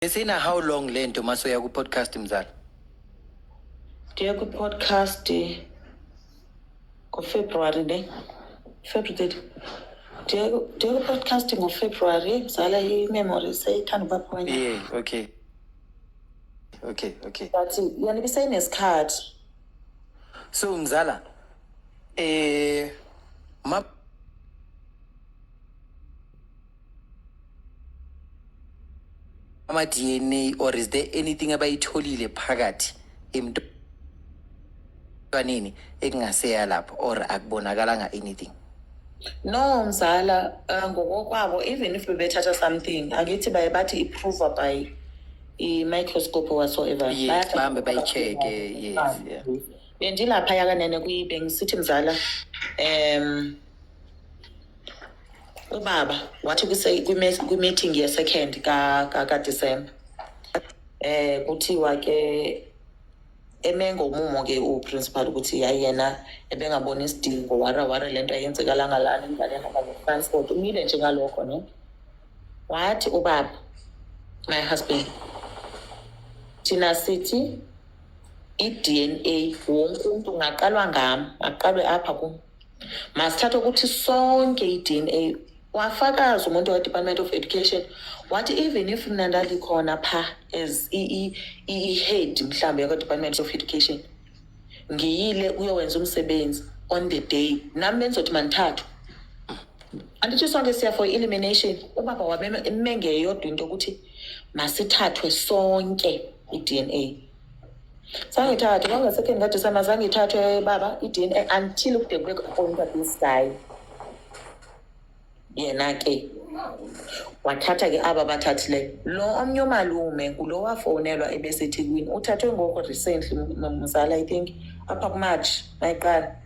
Isina how long le nto uma soya ku-podcast mzala? Ndiye ku-podcast ngoFebruary ne? February thirty. Ndiye ku- ndiye ku-podcast ngoFebruary ngizala i-memory seyithanda ukuba khona. Yeah, okay. Okay, okay. But yona ibiseyinesikhathi. So mzala, eh ma ama DNA or is there anything abayitholile phakathi emntwaneni ekungaseya lapho or akubonakalanga anything no mzala uh, ngokokwabo even if bebethatha something angithi baye bathi iprove by i-microscope whatsoever yes bahambe bayi-check-e yes ah, yeah. bendilaphaya kanene kuyibengisithi mzala um ubaba wathi kuse- kwime- kwimeeting yesecond ka- ka- kadisemba eh kuthiwa ke emengo umumo ke uprincipal ukuthi yayi yena ebengabona isidingo wara wara lento ayenzekala ngalana ingane yahamba ngetransport umile nje ngalokho ne wathi ubaba my husband thina sithi i-dna wonke umuntu ungaqalwa ngami aqalwe apha kum masithathe ukuthi sonke i-dna wafakaza umuntu we-department of education wathi even if mna ndalikhona pha as i-head mhlawumbe yakwa-department of education ngiyile kuyowenza umsebenzi on the day nami bendizothi mandithathwe andithi sonke siya for elimination ubaba wabemengeyodwa into yokuthi masithathwe sonke i-dna zange ithathwe kwangasekeni kadisema zange ithathwe baba i-dn a until kude kube kuqonta this guy yena ke wathatha ke aba bathathile lo omnye umalume ngulo wafonelwa ebesethekwini uthathwe ngoko recently mzala i think apha kumarch mayiqala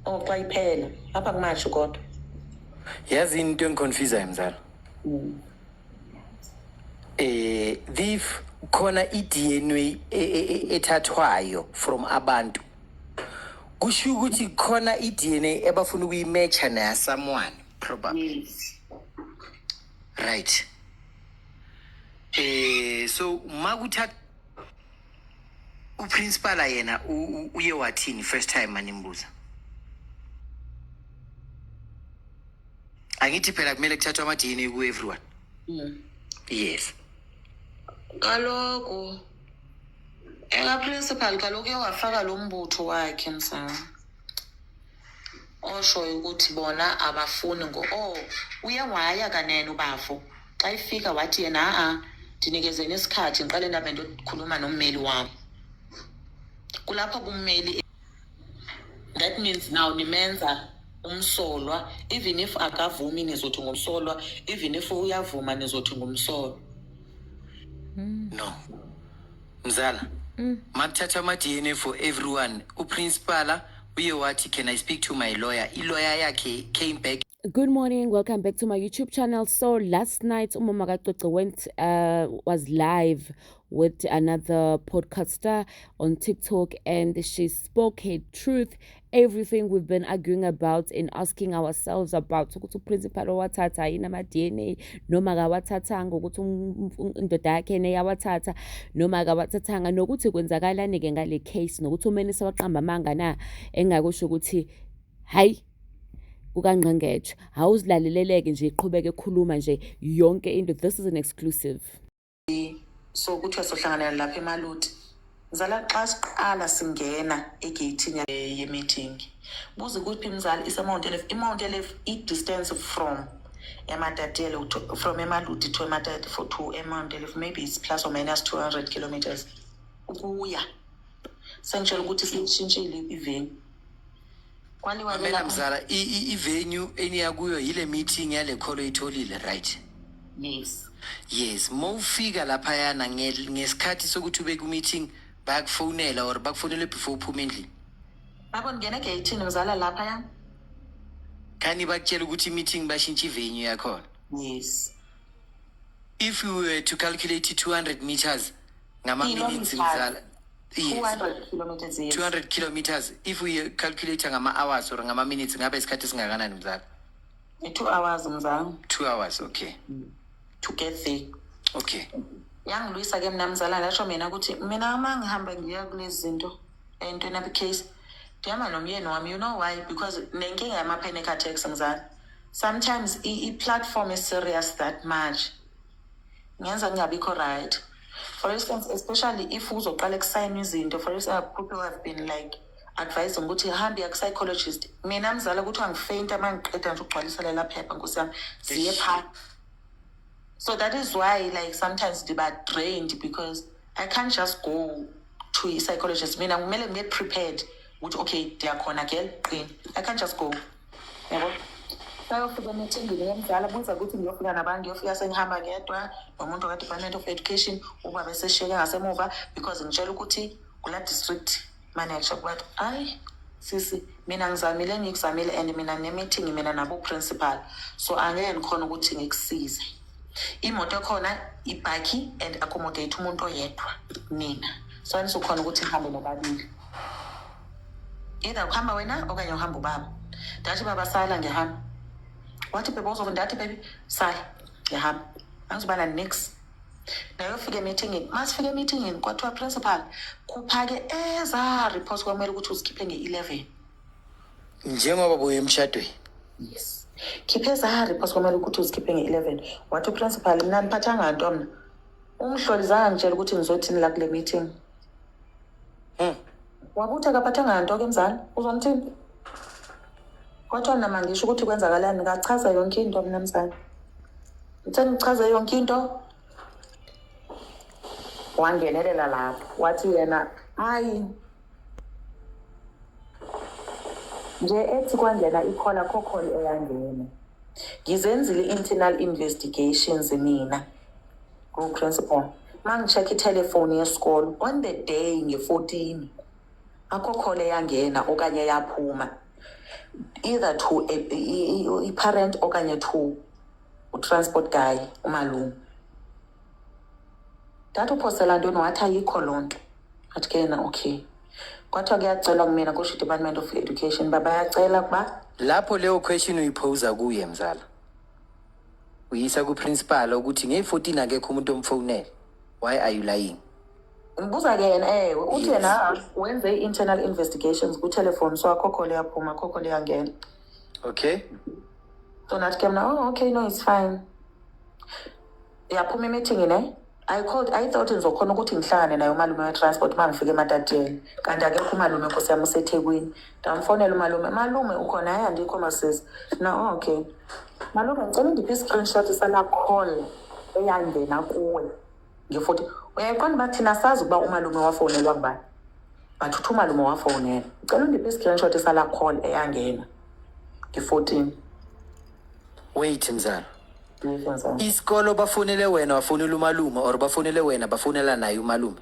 or xa iphela apha kumarch kodwa yazi into engiconfusayo mzala mm. eh thief khona iDNA e- e- e- ethathwayo from abantu kusho ukuthi khona iDNA ebafuna ukuyimatcha naya someone probably yes right eh so makuthatha uprincipal yena u- u- uye wathini first time manimbuza angithi phela kumele kuthathwe ama DNA ku everyone Mm. yes Kaloku eka principal kaloku uye wafaka lo mbutho wakhe mfana. Oshoyo ukuthi bona abafuni ngo oh uye waya kanene ubafo xa ifika wathi yena a ndinikezeni isikhathi ngiqale ndabe ndokhuluma nommeli wami. Kulapho kummeli that means now nimenza umsolwa even if akavumi nizothi ngumsolwa even if uyavuma nizothi ngumsolwa hmm. no mzala hmm. makuthathwa ama-dna for everyone uprincipala uye wathi can i speak to my lawyer iloya yakhe came back Good morning, welcome back to my YouTube channel. So last night Umama Kacoco went uh, was live with another podcaster on TikTok and she spoke her truth, everything we've been arguing about and asking ourselves about ukuthi uprincipal owathatha yini ama-DNA noma kawathathanga ukuthi indoda yakhe neyawathatha noma kawathathanga nokuthi kwenzakalani-ke ngale case nokuthi umeni sewaqamba amanga na engakusho ukuthi hayi kukangqengetshe hhawu uzilaleleleke nje iqhubeke ekhuluma nje yonke into this is an exclusive so kuthiwa sohlanganela lapha emaluti mzala xa siqala singena egeyithini ye-meeting buze kuphi mzala isemount elef imount elef i-distance from ematatiele from emaluti to ematati for to emount elef maybe it's plus or minus two hundred kilometers ukuya sengitshela ukuthi siyishintshile iveni Kwani wena Mamela lapha- mzala i- i- ivenue eniya kuyo yile meeting yale kholo oyitholile right Yes. yes ma ufika laphayana nge- ngesikhathi sokuthi ube ku-meeting bayakufonela or bakufonele before uphuma endlini Babo ngene geyithini ngizala lapha ya. khani bakutshela ukuthi i-meeting bashintshe ivenue yakhona Yes. if you were to calculate i-200 meters ngama-minutes Kilometres. mzala 200 kilometers a year. 200 kilometers if we calculate ngama-hours or ngama-minutes ngabe isikhathi esingakanani mzala Two hours mzangu two hours okay to get there. okay Yangilwisa ke mina mzala lasho mina ukuthi mina uma ngihamba ngiya kulezi zinto entweni abi case ngihamba nomyeni wami you know why because nenkinga yama-panic attacks mzala sometimes i- i-platform is serious that much ngenza ngingabikho right for instance especially if uzoqala kusayinwa izinto for instance people have been like advising ukuthi hambe yaku-psychologist mina mzala kuthiwa ngifeyinta uma ngiqeda nje ukugcwalisa lela phepha nkosi yami ziye phaa so that is why like sometimes ndiba drained because i can't just go to i-psychologist mina kumele ngibe prepared ukuthi okay ndiyakhona girl qini i can't just go yabo bayofika emicimbini yemzala buza ukuthi ngiyofika nabani ngiyofika sengihamba ngedwa nomuntu ka-department of education uba beseshiyeke ngasemuva because ngitshela ukuthi kula district manager but ayi sisi mina ngizamile ngikuzamile and mina nginemithingi mina naboprincipal so angeke ngikhona ukuthi ngikusize imoto ekhona ibhakhi and accommodate umuntu oyedwa mina so anisukhona ukuthi ngihambe nobabili either ukuhamba wena okanye uhamba ubaba ndathi baba sala ngiyahamba wathi bebe uzova ndathi bebe sala ngiyahamba angizibana nix nayofika emithingini masifika emithingini kwathiwa principal khupha-ke eza report kwamele ukuthi uzikhiphe nge-eleven njengoba buye emshadweni yes khiphe eza report kwamele ukuthi uzikhiphe nge-eleven wathi uprincipal mna ndiphathanga nto mna umhloli zange ngitshela ukuthi ngizothini la kule meeting Hmm. wakuthi akaphathanga nto ke mzali uzomthini kwathiwa nama ngisho ukuthi kwenzakalani kachaza yonke into mina mzali ngithe ngichaze yonke into wangenelela lapho wathi yena hayi nje ethi kwangena ikhola khokholi eyangena ngizenzile i-internal investigations mina Go principal. Mangicheck ithelefoni yesikolo on the day nge-14 akho call eyangena okanye yaphuma either to a- i- i- i- i-parent okanye to utransport guy umalume. Ndathi uphosela ntoni wathi ayikho loo nto. Athi ke yena okay. Kwathiwa kuyacelwa kumina kusho i-Department of Education uba bayacela ukuba Lapho leyo question uyiphosa kuye mzala. uyisa kuprincipal ukuthi ngeyi-14 akekho umuntu omfonele why are you lying ngibuza-ke yena ewe uthi Yes. yena wenze i-internal investigations kuthelefoni so akhokho liyaphuma akhokho liyangena okay so nathi ke mna oh okay no it's fine yaphuma imithini ne I called I thought ngizokhona ukuthi ngihlangane naye umalume we-transport uma ngifike ematatieni kanti akekho umalume nkosi yami usethekwini ndamfonela umalume malume ukhona hayi andikho masisi na okay malume ngicela undiphe i-screenshot sala call eyangena kuwe ngifuthi uyayiqonda uba thina sazi ukuba umalume wafonelwa ngubani but uthi umalume wafonela ngicela undiphe i-screenshot sala call eyangena ngi-fourteen wait mzala isikolo bafonele wena wafonela umalume or bafonele wena bafonela naye umalume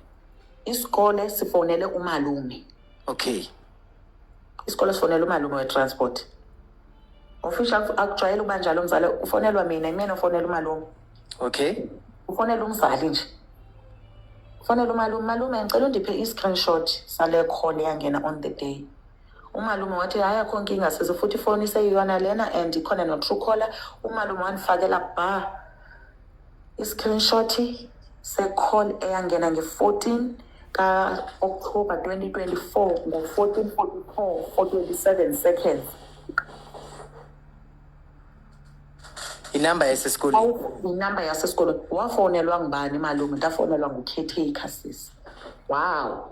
isikole sifonele umalume okay isikole sifonele umalume we-transport ofisha akujwayele ukuba njalo umzala ufonelwa mina imina ufonela umalume okay ufonela umzali nje ufonela umalume malume ngicela undiphe i-screenshot sale call eyangena on the day umalume wathi hayi akho nkinga size futhi ifoni iseyiyona lena and ikhona no-true caller umalume wandifakela ba i-screenshot se-call eyangena nge-fourteen ka-october twenty twenty-four ngo-fourteen forty-four for twenty-seven seconds inamba yasesikoleni inamba yasesikoleni wafonelwa ngubani malume ndafonelwa ngucaretaker sisi wow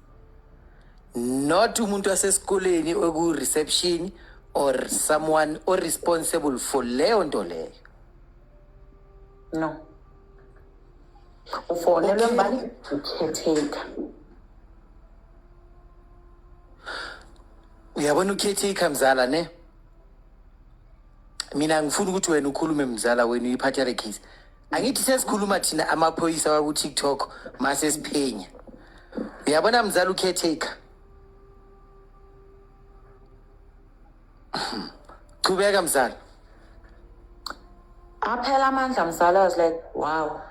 not umuntu wasesikoleni oku-reception or someone o-responsible for leyo nto leyo no ufonelwe Okay. mbani ukhetheka uyabona ukhethika mzala ne mina ngifuna ukuthi wena ukhulume mzala wenu uyiphathe le case angithi sesikhuluma thina amaphoyisa waku-tiktok mase siphenya uyabona mzali ucaretaker chubeka mzali aphela amandla mzali i was like wow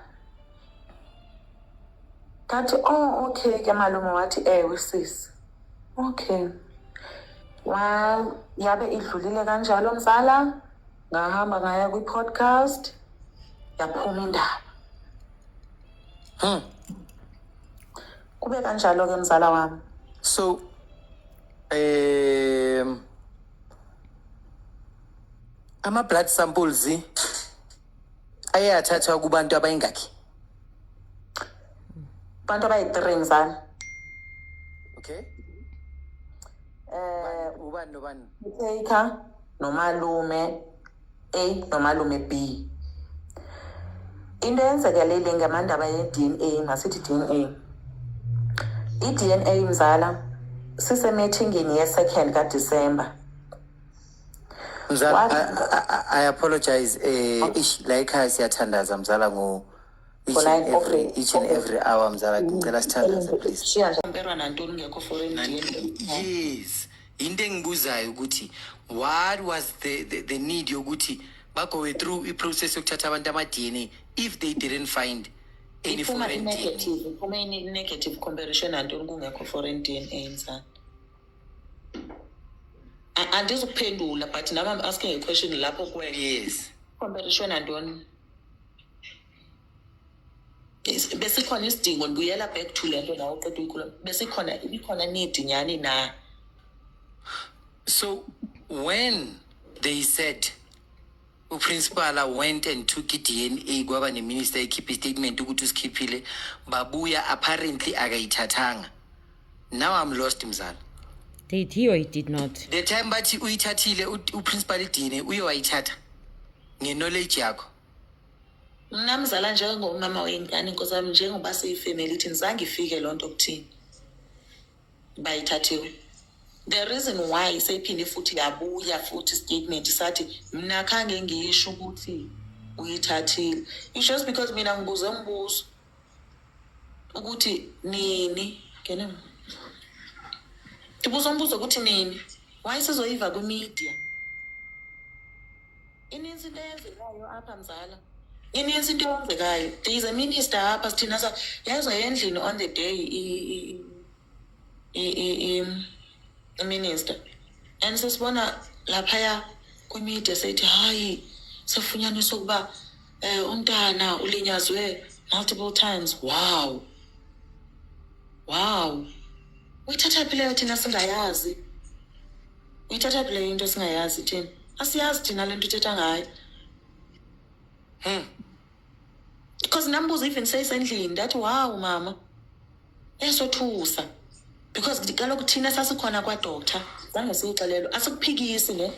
ngathi oh okay ke malume wathi ewe sisi okay wa yabe idlulile kanjalo mzala ngahamba ngaya kwi-podcast yaphuma indaba hmm. kube kanjalo-ke mzala wami so um ama-blood samples aye athathwa kubantu abayingakhi abantu abayi-three mzala okay um ubani nobani taker nomalume A nomalume B into eyenzekelele ngamandaba ye-DNA masithi DNA i-DNA mzala sisemethingini ye-second kaDisemba mzala I, I, I apologize eh oh. ish la ekhaya siyathandaza mzala ngo each and every each and every hour mzala ngicela sithandaze please shiya nje impera nantoni ngekho foreign DNA yes yinto engibuzayo ukuthi what was the, the, the need yokuthi bagoe through iprocess yokuthatha abantu ama-dna if they didn't find any iphuma foreign DNA. i-negative iphuma i-negative comparison antoni kungekho foreign d n a mfana A- andizukuphendula but nam am asking a question lapho kwena yes comparison antoni besikhona isidingo ndibuyela back to le nto nawo qeda uyikhuluma besikhona ibikhona need nyhani na so when they said uprincipala went and took i-dna kwaba neminister ekhiphe istatement ukuthi usikhiphile babuya apparently akayithathanga now i'm lost mzala did he or he did not the time bathi uyithathile uprincipal i-dna uye wayithatha nge-knowledge yakho mna mzala njengomama weyingane nkosi yami njengoba siyifamily thini zange ifike loo nto kuthini bayithathiwe the reason why seyiphinde futhi yabuya futhi istatement sathi mna khange ngiyisho ukuthi uyithathile it's just because mina ngibuze umbuzo ukuthi nini ngene ndibuza umbuzo ukuthi nini wayesizoyiva kwimedia ininzi into eyenzekayo apha mzala ininzi into eyenzekayo there is a minister apha sithina sa yayizwa endlini on the day iminister and sesibona laphaya kwimedia seyithi hayi sefunyaniswa ukuba um umntana ulinyazwe multiple times wow wow uyithatha phi leyo thina singayazi uyithatha phi leyo into singayazi thina asiyazi thina le nto uthetha ngayo hmm. because nambuza even seyisendlini ndathi wow mama esothusa because kaloku thina sasikhona kwadoctor zange siyixelelwe asikuphikisi ne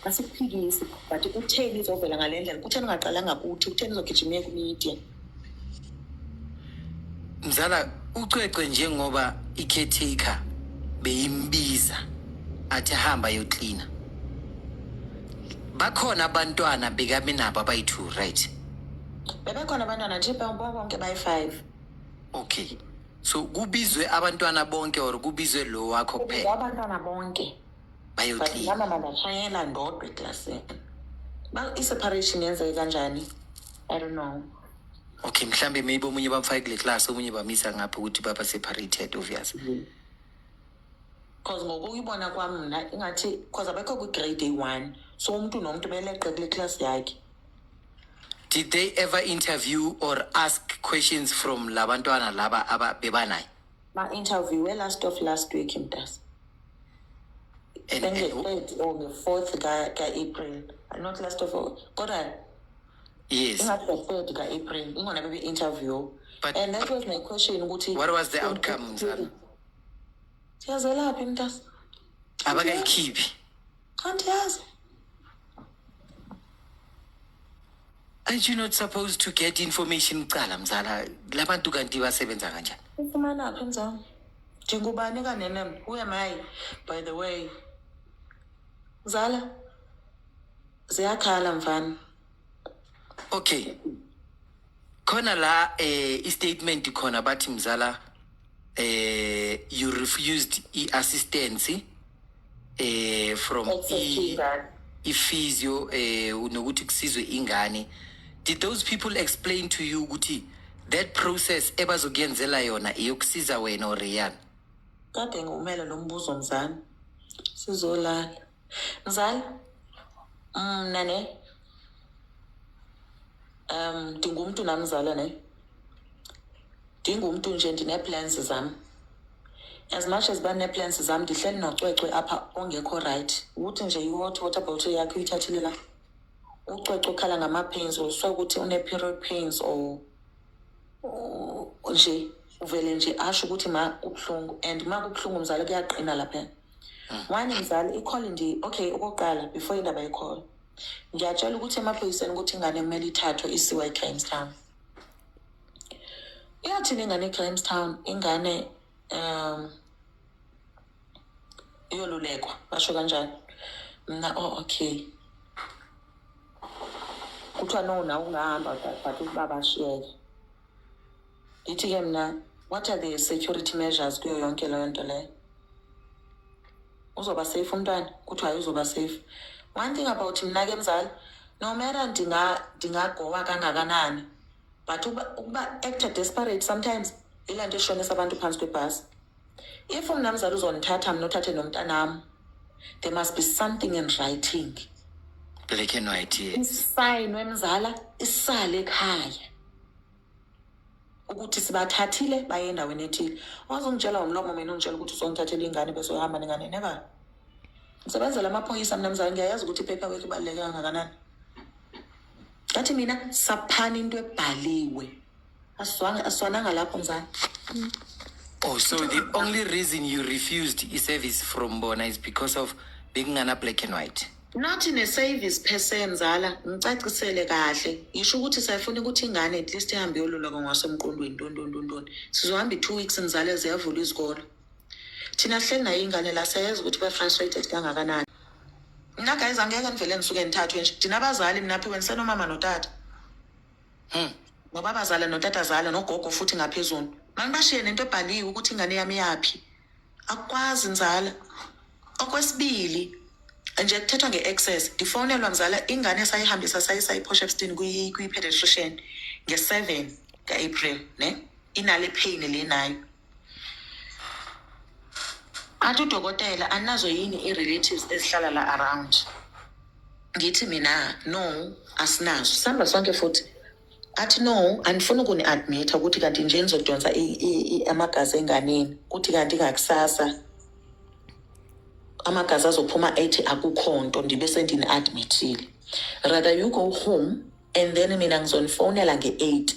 asikuphikisi but kutheni izovela ngale ndlela kutheni ungaqalanga kuthi kutheni izogijima iye kumedia mzala ucwecwe njengoba i-caretaker beyimbiza athi hamba yoklina bakhona abantwana bekaminabo abayi-two right bebekhona abantwana nje bonke bayi-five okay so kubizwe abantwana bonke or kubizwe lo wakho kuphela abantwana bonke bayoclean mama mandashayela ndodwa eklasini ba i-separation yenzeke kanjani i don't know okay mhlambe maybe omunye bamfake kule class omunye bamisa ngapha ukuthi baba separated obvious mm -hmm because ngokuyibona kwami mna ingathi because abekho kwi-grade a-one so umntu nomntu beleqe kule class yakhe did they ever interview or ask questions from labantwana laba aba bebanayo ma interview we last of last week mntasa And- and- nge-third or nge-fourth ka- ka-april not last of all kodwa yes ingathi nge-third ka-april ingona bebe-interview But- and that was my question ukuthi what was the outcome mzala siyazelaphi mntasa abakayikhiphi kanti yazi aren't you not supposed to get information kuqala mzala labantu kanti basebenza kanjani ufumana phi mzala ndingubani kanenem who am i by the way mzala ziyakhala mfana okay khona la eh istatement khona bathi mzala eh you refused iassistance eh from i ifizio eh nokuthi kusizwe ingane did those people explain to you ukuthi that process ebazokuyenzela yona iyokusiza wena or Rian kade ngiwumele lo mbuzo mzana sizolala Mzali, mna ne um ndingumntu namzala ne ndingumntu nje ndinee-plans zam as much as banee-plans zam ndihleli nocwecwe apha ongekho rayithi ukuthi nje i-hot water bottle yakhe uyithathile la ucwecwe ukhala ngama-pains or so ukuthi une-period pains or nje uvele nje asho ukuthi ma kubuhlungu and ma kubuhlungu mzali kuyaqina laphana one mzali ikhole nje okay okokuqala before indaba yekhole ngiyatshela ukuthi emaphoyiseni ukuthi ingane kumele ithathwe isiwa ecrimstown iyathini ingane ecrimstown ingane um iyolulekwa basho kanjani mna o oh, okay kuthiwa no na ungahamba but ubaba ashiyeke Yithi ke mna what are the security measures kuyo yonke leyo nto leyo? Uzoba safe umntwana kuthiwa hayi uzoba safe. One thing about mna ke mzali no matter ndinga ndingagowa kangakanani but ukuba, ukuba act desperate sometimes yilaa nto eshonisa abantu phantsi kwebhasi. if umnamzala uzonithatha mina uthathe nomntanami there must be something in writing black and white sign wemzala isale ekhaya ukuthi sibathathile baye endaweni ethile wazongitshela umlomo mina ungitshela ukuthi uzongithathela ingane bese uhamba nengane neba ngisebenzela amaphoyisa mina mzala ngiyayazi ukuthi iphepha wethu ibaluleke kangakanani ngathi mina saphani into ebhaliwe Aswana- aswananga lapho mzala Oh, so the only reason you refused i-service from bona is because of bekungana black and white. not ne-service per se mzala ngicacisele kahle ngisho ukuthi sayifuna ukuthi ingane at least ihambe yoluleka ngwasemqondweni ntontontontoni sizohamba i-two weeks mzala ziyavula izikolo thina sihleli nayo ingane la siyayazi ukuthi ba-frustrated kangakanani mna guys angeke nivele nisuke nithathwe nje thina abazali mnaphiwe nisenomama notata Hmm. Ngobabazala notatazala nogogo futhi ngaphezulu. Manibashiye nento ebhaliwe ukuthi ingane yami yaphi. Akukwazi nzala. Okwesibili nje kuthethwa nge-access ngifonelwa mzala ingane esayihambisa sayisa i-posh epstein kwi-pediatrician nge-seven ka-april ne inale pain le nayo athi udokotela anazo yini i-relatives ezihlala la around ngithi mina no asinazo sihamba sonke futhi athi no andifuni ukuni-admitha ukuthi kanti nje nizodonsa amagazi enganeni kuthi kanti ngakusasa amagazi azophuma ethi akukho nto ndibe sendini-admithile rather you go home and then mina ngizonifonela nge-eight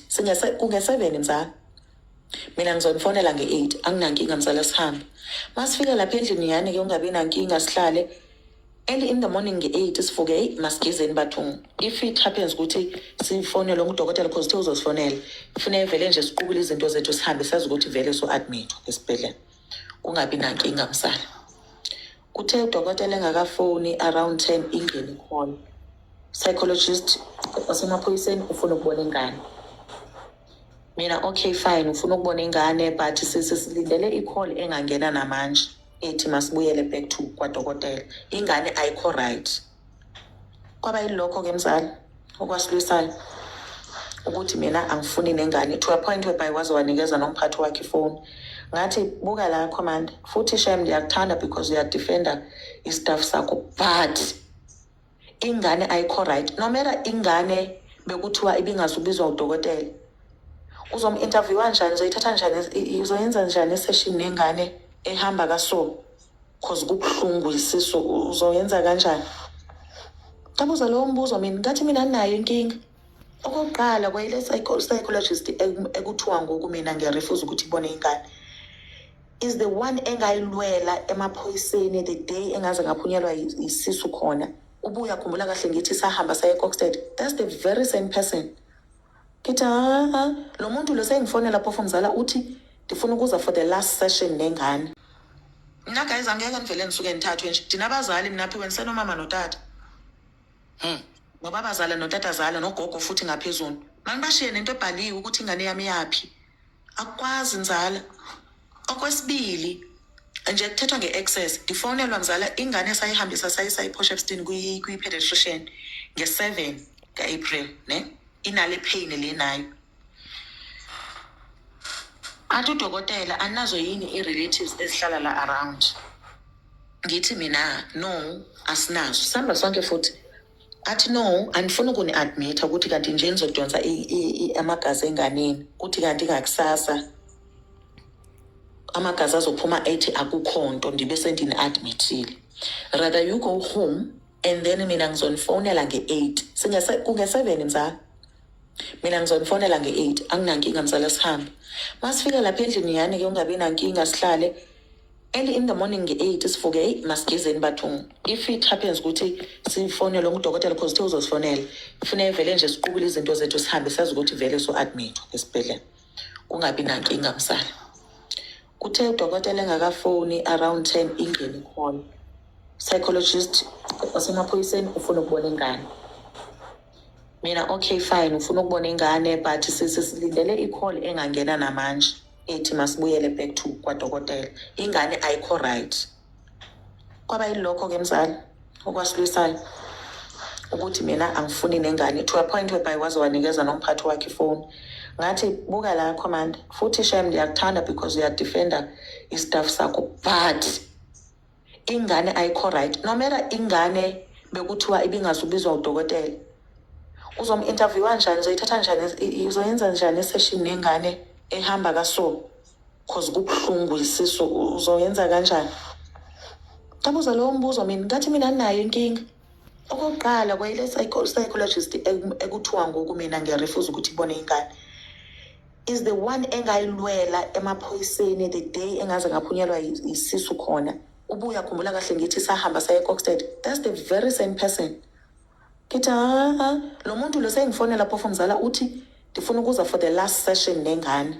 kunge-seven mzala mina ngizonifonela nge-eight anginankinga mzala sihambe masifika lapha endlini yani-ke ungabi nankinga sihlale Early in the morning nge-8 sivuke eyi masigezeni bathungu if it happens ukuthi sifonele umudokotela because uthe uzosifonela kufuneka vele nje siqukule izinto zethu sihambe sazi ukuthi vele so-admithwa esibhedlela kungabi nankinga msala kuthe udokotela engakafoni around ten ingeni khona psychologist wasemaphoyiseni ufuna ukubona ingane mina okay fine ufuna ukubona ingane but sisilindele i-call engangena namanje ethi masibuyele back to kwadokotela ingane ayikho right kwaba yilokho ke mzali okwasilwisayo ukuthi mina angifuni nengane to a point whereby waze wanikeza nomphathi wakhe ifoni ngathi buka la command futhi shem ndiyakuthanda because uyadefenda istaff sakho but ingane ayikho right nomera ingane bekuthiwa ibingaze ubizwa udokotela uzomu-interviewa njani uzoyithatha njani uzoyenza njani iseshini nengane ehamba kaso cause kubuhlungu isisu uzoyenza kanjani kabuza lowo mbuzo mina ngathi mina nayo inkinga okokuqala kwayile psychologist ekuthiwa ngoku mina ngiyarefuza ukuthi ibone ingane is the one engayilwela emaphoyiseni the day engaze ngaphunyelwa yisisu khona ubuya khumbula kahle ngithi sahamba saye coxted that's the very same person ngithi ha lo muntu lo sengifonela phofu mzala uthi ndifuna ukuza for the last session nengane mna guys angeke ndivele ndisuke ndithathwe nje ndina abazali mna phiwe ndisenomama notata hmm. ngoba abazala notatazala nogogo futhi ngaphezulu mandibashiye nento ebhaliwe ukuthi ingane yami yaphi akwazi nzala okwesibili nje kuthethwa nge-access ndifonelwa mzala ingane esayihambisa sayisa i-posh epstein kwi-pediatrician nge-seven ka-april ne inale pain le nayo athi udokotela anazo yini i-relatives ezihlala la around ngithi mina no asinazo sihamba sonke futhi athi no andifuni ukuni-admitha ukuthi kanti nje nizodonsa amagazi enganeni kuthi kanti ngakusasa amagazi azophuma ethi akukho nto ndibe sendini-admithile rather you go home and then mina ngizonifonela nge-eight kunge-seven mzala mina ngizonifonela nge-eight anginankinga mzala sihambe masifika lapha endlini yani ke ungabi nankinga sihlale Early in the morning nge-8 sivuke eyi masigezeni bathungu if it happens ukuthi sifonele umdokotela because uthe uzosifonela kufuneka vele nje siqubule izinto zethu sihambe sazi ukuthi vele so-admithwa esibhedlela kungabi nankinga msala kuthe udokotela engakafoni around ten ingeni khona psychologist wasemaphoyiseni ufuna ukubona ingane mina okay fine ufuna ukubona ingane but sisilindele i-call engangena namanje ethi masibuyele back to kwadokotela ingane ayikho right kwaba yilokho ke mzali okwasilwisayo ukuthi mina angifuni nengane to a point whereby waze wanikeza nomphathi wakhe ifoni ngathi buka la commander futhi shem ndiyakuthanda because uyadefenda istaff sakho but ingane ayikho right nomera ingane bekuthiwa ibingaze ubizwa udokotela uzomu-interviewa njani uzoyithatha njani uzoyenza njani iseshini nengane ehamba kaso cause kubuhlungu isisu uzoyenza kanjani ngabuza lowo mbuzo mina ngathi mina nayo inkinga okokuqala kwayile psychologist ekuthiwa ngoku mina ngiyarefuza ukuthi ibone ingane is the one engayilwela emaphoyiseni the day engaze ngaphunyelwa yi- yisisu khona ubuya khumbula kahle ngithi sahamba saye coxted that's the very same person ngithi ha lo muntu lo sengifonela phofu mzala uthi ndifuna ukuza for the last session nengane